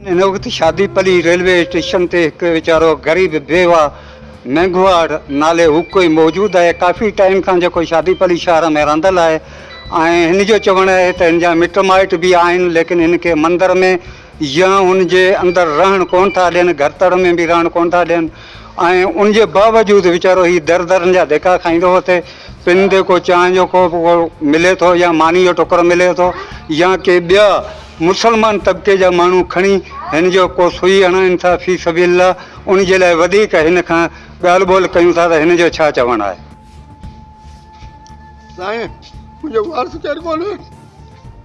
ان وقت Shadipalli railway station تي هڪ ويچارو غريب بيوه مينگهواڙ نالي هو ڪوئي موجود آهي ڪافي ٽائيم کان جيڪو شادي پلي شهر ۾ رهندل آهي ۽ هن جو چوڻ آهي ته هن جا مٽ مائٽ به آهن ليڪن هن کي مندر ۾ يا ان جي اندر رهڻ ڪونه ٿا ڏين گهرتڙ ۾ به رهڻ ڪونه ٿا ڏين ۽ ان جي باوجود ويچارو هي در درن جا ڌڪا کائيندو هو تي پن تي ڪو چانهه جو ڪوپ ملي ٿو يا ماني جو ٽڪر ملي ٿو يا ڪي ٻيا مسلمان طبقي جا ماڻهو کڻي هن جو ڪو سوئي هڻائين ٿا في سبيل الله ان جي لاء وڌيڪ هن کان ڳالهه ٻولهه ڪيون ٿا ته هن جو ڇا چوڻ آهي. سائين منهنجو وارث ڪير ڪونهي.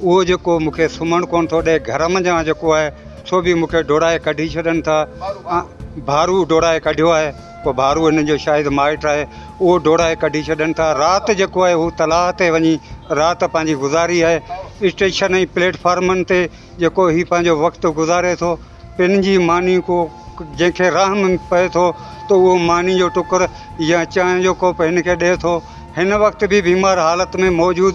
اهو جيڪو مون کي سمهڻ ڪونه ٿو ڏئي، گهر منجهان جيڪو آهي سو به مون کي ڊوڙائي ڪڍي ڇڏن ٿا. ڀارو ڊوڙائي ڪڍيو آهي، ڪو ڀارو هنن جو شايد مائٽ آهي، اهو ڊوڙائي ڪڍي ڇڏن ٿا. رات جيڪو آهي هو تلاء تي وڃي رات پنهنجي گذاري آهي. اسٽيشن ۽ پليٽ فارمن تي جيڪو هي پنهنجو وقت گذاري ٿو، پن جي ماني ڪو جنهن کي راهه ۾ پئي ٿو ته اهو ماني جو ٽڪر يا چانهه جو ڪوپ هن کي ڏئي ٿو. هن وقت به بيمار حالت ۾ موجود.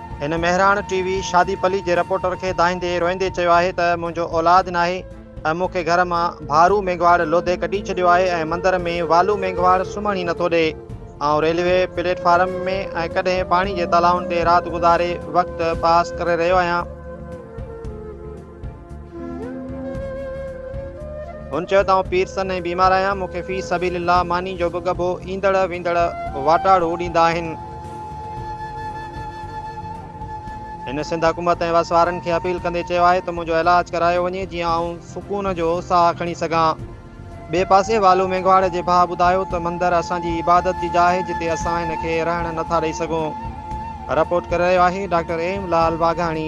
هن مهراڻ ٽي وي شادي پلي جي رپورٽر کي دانهيندي روئيندي چيو آهي ته منهنجو اولاد ناهي ۽ مون کي گهر مان ڀارو مينگهواڙ لوڌي ڪڍي ڇڏيو آهي ۽ مندر ۾ والو مينگهواڙ سمهڻ ئي نٿو ڏئي آئون ريلوي پليٽ فارم ۾ ۽ ڪڏهن پاڻي جي تالائن تي رات گذاري وقت پاس ڪري رهيو آهيان. هن چيو ته آئون پير سن ۽ بيمار آهيان، مون کي في سبيل الله ماني جو به ڳڀو ايندڙ ويندڙ واٽاڙو ڏيندا آهن. هن سنڌ حڪومت ۽ وسوارن کي اپيل ڪندي چيو آهي ته منهنجو علاج ڪرايو وڃي جيئن آئون سڪون جو ساهه کڻي سگهان. ٻئي پاسي والو مينگهواڙ جي ڀاء ٻڌايو ته مندر اسان جي عبادت جي جاء آهي جتي اسان هن کي رهڻ نه ٿا ڏئي سگهون. رپورٽ ڪري رهيو آهي ڊاڪٽر ايم لعل واگهاڻي.